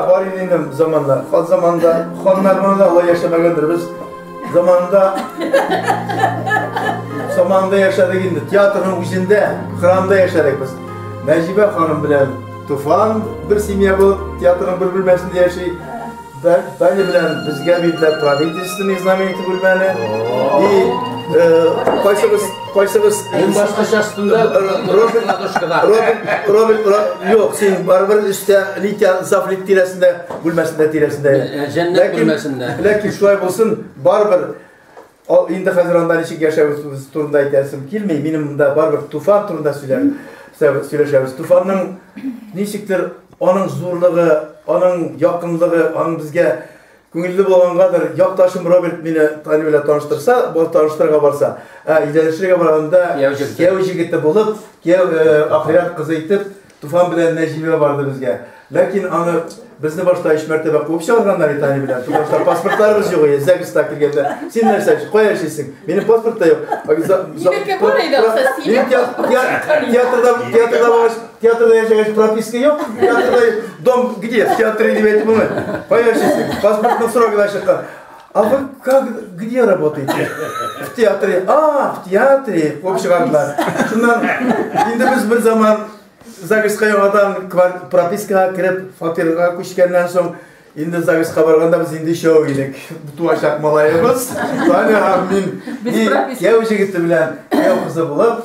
бар инде заманда хан заманда ханнар монда алай яшәмәгәндер без Заманында Заманында яшәдек инде. Театрның үзендә, храмда яшәдек без. Нәҗибә ханым белән Туфан бер семья булып театрның бер бүлмәсендә яши. Таня белән безгә бирделәр правительственный знамя итеп бүлмәне. И кайсыбыз кайсыбыз Мин башкача өстендә Робин Робин Робин Юк, син барыбер өстә Литя Зафлик тирәсендә бүлмәсендә тирәсендә. Э, җәннәт бүлмәсендә. Ләкин шулай булсын, барыбер инде хәзер анда ничек яшәвебез турында әйтәсем килми. Минем монда барыбер туфан турында сөйләм, сөйләшәбез. Туфанның ничектер аның зурлыгы, аның якынлыгы, аның безгә күңелле булгангадыр, якташым Роберт мине Тани белән таныштырса, бар таныштырырга барса, ә идәнчелегә барганда кияү җегете булып, кияү э, ахирәт кызы итеп Туфан белән Нәҗимә барды безгә. Ләкин аны безне башта өч мәртәбә куып чыгарганнар итә ани белән. Туфан что паспортларыбыз юк иде. Зәгестә килгәндә. Син нәрсә, кая эшлисең? Минем паспорт та юк. Минеке бар иде, акча синең. Театрда, театрда булгач, театрда яшәгәч прописка юк. Театрда дом где? Театры дип әйтеп булмый. Кая эшлисең? Паспортның срогы да чыккан. А вы как, где работаете? В театре. А, в театре. Куып чыгардылар. Шуннан, инде без бер заман ЗАГСка яңадан пропискага кереп, фатирга күчкәннән соң, инде ЗАГСка барганда без инде шоу идек. Туачак малаебыз. Таня һәм мин. Без прописка. Кияү җегете белән кияү кызы булып,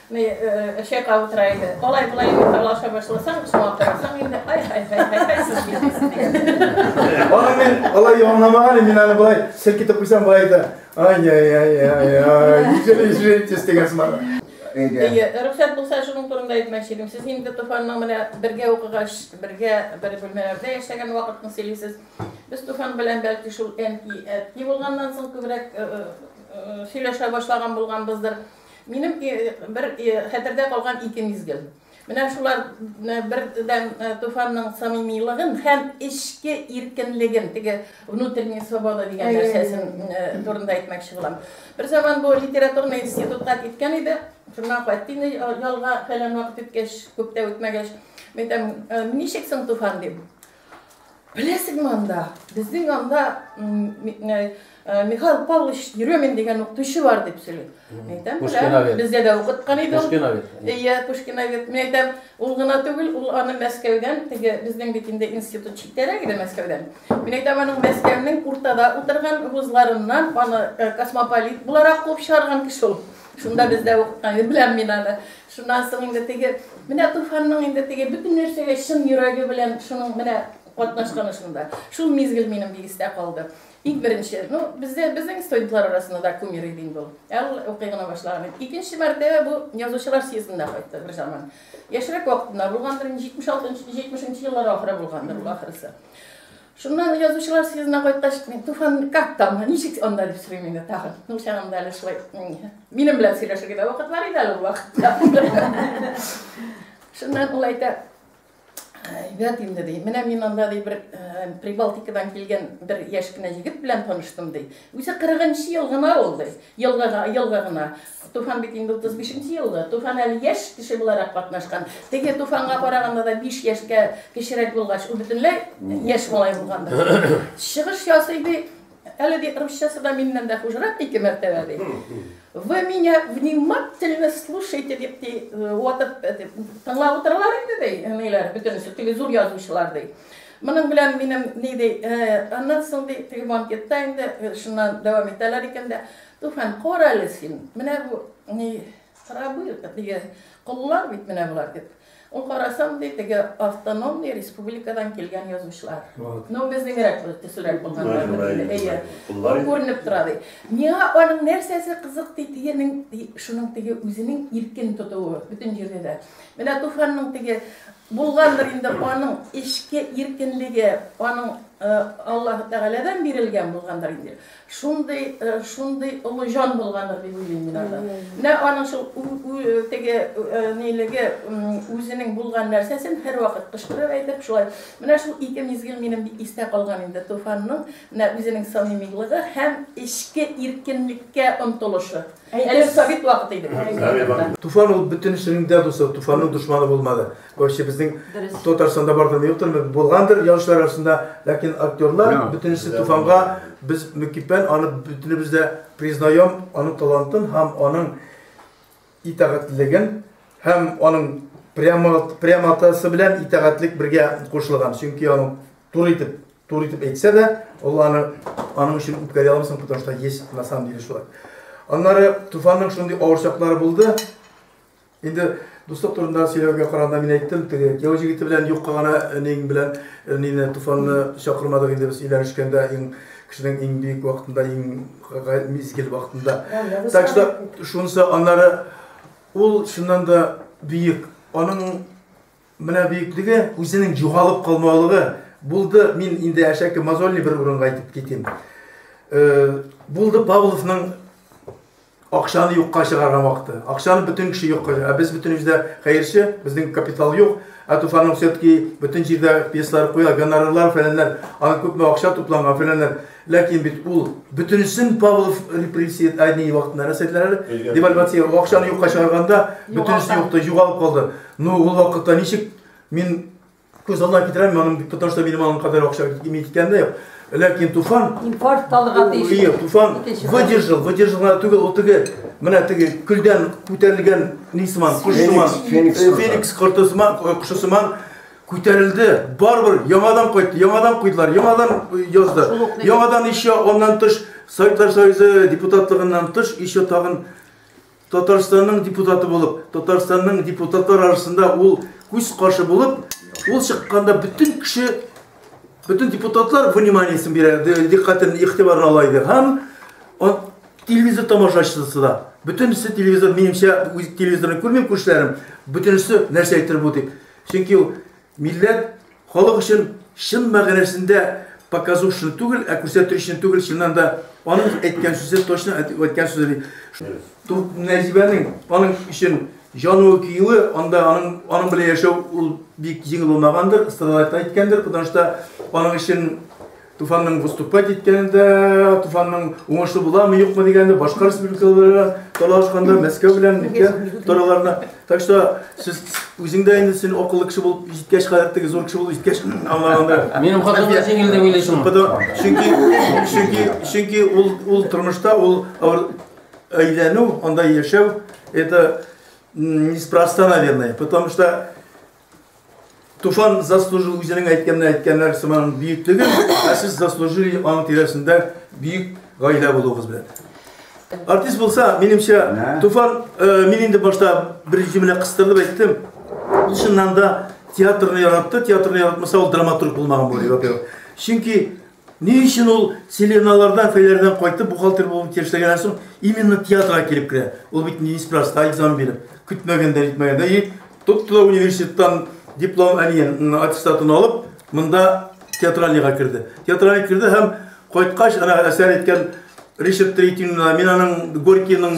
Ни, чайка утыра иде. Алай булай инде талаша башласаң, шуңа карасаң инде, ай, ай, ай, ай, ай, сез бит. Аны мин алай яманламаган идем, мин аны болай селкетеп куйсам болай да. Ай, ай, ай, ай, ай, ишер, ишер, тез дигән сымак. Әйе, рөхсәт булса шуның турында әйтмәкче идем. Сез инде Туфанның менә бергә укыгач, бергә бер бүлмәләрдә яшәгән вакытны сөйлисез. Без Туфан белән бәлки шул әнки, әти булганнан соң күбрәк сөйләшә башлаган булганбыздыр. Э, Минем бер хәтердә калган ике мизгел. Менә шулар бердәм Туфанның самимилыгын һәм эчке иркенлеген, теге внутренняя свобода дигән нәрсәсен турында әйтмәкче булам. Бер заман бу литературный институтка киткән иде. Шуннан кайтты инде ялга фәлән вакыт үткәч, күп тә үтмәгәч. Мин әйтәм, ничек соң Туфан дип. Беләсеңме анда? Безнең анда Михаил Павлович Еремин дигән укытучы бар дип сөйли. Әйтәм, Пушкиновец. Бездә дә укыткан иде. Пушкиновец. Иә, Пушкиновец. Мин әйтәм, ул гына түгел, ул аны Мәскәүдән, теге безнең бит инде институт читтәрәк иде Мәскәүдән. Мин әйтәм, аның Мәскәүнең уртада утырган вузларыннан аны космополит буларак куып чыгарган кеше ул. Шунда бездә укыткан иде, беләм мин аны. Шуннан соң инде теге, менә Туфанның инде теге бөтен нәрсәгә чын йөрәге белән шуның менә катнашканы шунда. Шул мизгел минем бик истә калды. Иң беренче, ну, бездә безнең студентлар арасында да кумир иде инде ул. Ә ул укый гына башлаган иде. Икенче мәртәбә бу язучылар съездында кайтты бер заман. Яшьрәк вакытында булгандыр, 76 нчы 70 нчы еллар ахыры булгандыр ул ахрысы. Шуннан язучылар съездына кайткач, мин Туфан как там, ничек анда дип сорыйм инде тагын. Ну, чагында әле шулай. Минем белән сөйләшергә дә вакыт бар иде әле ул вакытта. Шуннан ул әйтә, әйбәт инде ди. Менә мин анда ди бер Прибалтикадан килгән бер яшь кенә егет белән таныштым ди. Үзе 40 ел гына ул ди. Елга елга гына. Туфан бит инде утыз бишенче елгы. Туфан әле яшь кеше буларак катнашкан. Теге Туфанга караганда да биш яшькә кечерәк булгач, ул бөтенләй яшь малай булган. Чыгыш ясый ди, әле ди русчасы да миннән дә хужрак ике мәртәбә ди. Вы меня внимательно слушайте дип ди, ватып тыңлап утыралар инде ди, әниләр бөтенесе, теге зур язучылар ди. Моның белән минем ни ди, аннан соң ди, теге банкетта инде шуннан дәвам итәләр икән дә, Туфан, кара әле син, менә бу ни срабы, теге коллар бит менә болар дип. Ул карасам ди, теге автономный республикадан килгән язучылар. Ну, безнегрәк төсерәк булганнар. Әйе. Ул күренеп тора ди. Миңа аның нәрсәсе кызык ди, тегенең шуның теге үзенең иркен тотуы бөтен җирдә дә. Менә Туфанның теге булгандыр инде аның эчке иркенлеге, аның Аллаһ Тәгаләдән бирелгән булгандыр инде. Шундый, шундый олы җан булгандыр дип уйлыйм мин аны. Менә аның шул теге нилеге, үзенең булган нәрсәсен һәрвакыт кычкырып әйтеп, шулай. Менә шул ике мизгел минем бик истә калган инде Туфанның менә үзенең самимилыгы һәм эчке иркенлеккә омтылышы. Әле совет вакыты иде бу безнең. Туфан ул бөтенесенең дә дусы, Туфанның дошманы булмады. Короче, безнең Татарстанда бардыр, юктыр, булгандыр яучылар арасында, ләкин актерлар бөтенесе Туфанга без мөкиббән аны бөтенебез дә признаем, аның талантын һәм аның итагатьлеген һәм аның прямо прямотасы белән итагатьлек бергә кушылган. Чөнки аның Туры итеп, туры итеп әйтсә дә, ул аны аның өчен үткәрә алмыйсың, потому что есть на самом деле шулай. Аннары Туфанның шундый авыр чаклары булды. Инде дуслык турында сөйләүгә караганда мин әйттем, теге кияү җегете белән юкка гына әниең белән әнине Туфанны чакырмадык инде без өйләнешкәндә иң кешенең иң бөек вакытында, иң мизгел вакытында. Так что шунысы аннары ул чыннан да бөек. Аның Менә бөеклеге, үзенең югалып калмаулыгы булды. Мин инде әшәке мозольный бер урынга әйтеп китим. Булды Павловның акчаны юкка чыгарган вакыты. Акчаны бөтен кеше юкка, ә без бөтенебез дә хәерче, безнең капитал юк. Ә Туфанның все-таки бөтен җирдә пьесалар куя, гонорарлар, фәләннәр, аны күпме акча тупланган, фәләннәр. Ләкин бит ул бөтенесен Павлов репрессия әйни вакытында рәсәтләр, девальвация, акчаны юкка чыгарганда бөтенесе юкты, югалып калды. Ну, ул вакытта ничек мин күз алдына китерәм, моның потому что минем алган кадәр акча кими киткәндә юк. Ләкин Туфан импорт талга тиеш. Ие, Туфан выдержал, выдержал гына түгел, ул теге менә теге күлдән күтәрелгән нисман, кошсыман, Феникс кортысман, кошсыман Күтәрелде, барыбер яңадан кайтты, яңадан куйдылар, яңадан язды, яңадан еще аннан тыш Советлар Союзы депутатлыгыннан тыш еще тагын Татарстанның депутаты булып, Татарстанның депутатлар арасында ул күз каршы булып, ул чыкканда бөтен кеше, бөтен депутатлар вниманиесен бирә, диккатен, игътибарын ала иде. Һәм телевизор тамашачысы да, бөтенесе телевизор, минемчә, телевизорны күрмим күршеләрем, бөтенесе нәрсә әйтер бу дип. Чөнки ул милләт, халык өчен чын мәгънәсендә показушный түгел, ә күрсәтүчен түгел, чыннан да аның әйткән сүзе точно әйткән сүзе ди. Нәҗибәнең аның өчен җануы киюе, анда аның аның белән яшәү ул бик җиңел булмагандыр, Страдалайт та әйткәндер, потому что аның өчен Туфанның выступать иткәнендә, Туфанның уңышлы буламы, юкмы дигәндә, башка республикаларга талашканда, Мәскәү белән нигә тораларына. Так что сез үзең дә инде син акыллы кеше булып җиткәч, гадәттәге зур кеше булып җиткәч, аңлаганда. Минем хатым да җиңел дип уйлыйсың. Чөнки чөнки чөнки ул ул тормышта ул әйләнү, анда яшәү это неспроста, наверное, потому что Туфан заслужил үзенең әйткәнне әйткәннәр сыман бөек түгел, ә сез заслужили аның тирәсендә бөек гаилә булуыгыз белән. Артист булса, минемчә, Туфан, э, мин инде башта бер җөмлә кыстырып әйттем. Ул чыннан да театрны яратты, театрны яратмаса ул драматург булмаган булыр, во-первых. Чөнки Ни өчен ул Селеналардан, Фәйләрдән кайтып, бухгалтер булуын тиешләгәннән соң, именно театрга килеп керә? Ул бит неспроста экзамен биреп, көтмәгәндә, нитмәгәндә, и тотты да университеттан диплом әниен, аттестатын алып, монда театральныйга керде. Театральный керде һәм кайткач, ана әсәр әйткән Ришард Третинна, мин аның Горькийның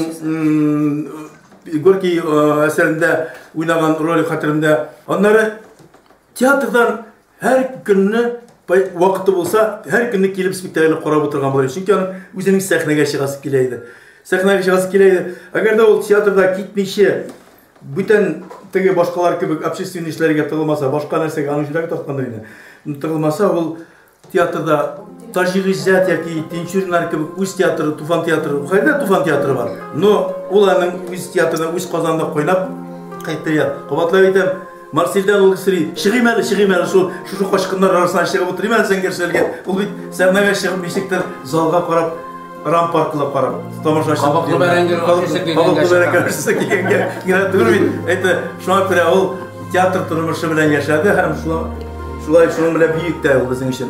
Горький әсәрендә уйнаган роль хәтерендә. Аннары театрдан Һәр көнне вакыты булса, һәр көнне килеп спектакльне карап утырган булыр. Чөнки аның үзенең сәхнәгә чыгасы килә иде. Сәхнәгә чыгасы килә иде. Әгәр дә ул театрда китмичә, бүтән теге башкалар кебек общественный эшләргә тыгылмаса, башка нәрсәгә аның йөрәге тарткандыр инде. Тыгылмаса ул театрда Таҗи Гыйззәт яки Тинчуриннар кебек үз театры, Туфан театры, кайда Туфан театры бар. Но ул аның үз театрында, үз Казанда кайнап кайтты. Кабатлап әйтәм, Марсельдән ул сри, чыгыйм әле, чыгыйм әле, шул шушы качкыннар арасына чыгып утырыйм әле сәнгерчеләргә. Ул бит сәхнәгә чыгып ничектер залга карап, рампаркла карап, тамашачы. Кабаклы бәрәңге ашыйсы килгәнгә. Кабаклы бәрәңге ашыйсы килгәнгә. Генә түгел бит. Әйтә, шуңа күрә ул театр тормышы белән яшәде һәм шулай шулай шуның белән бөек тә ул безнең өчен.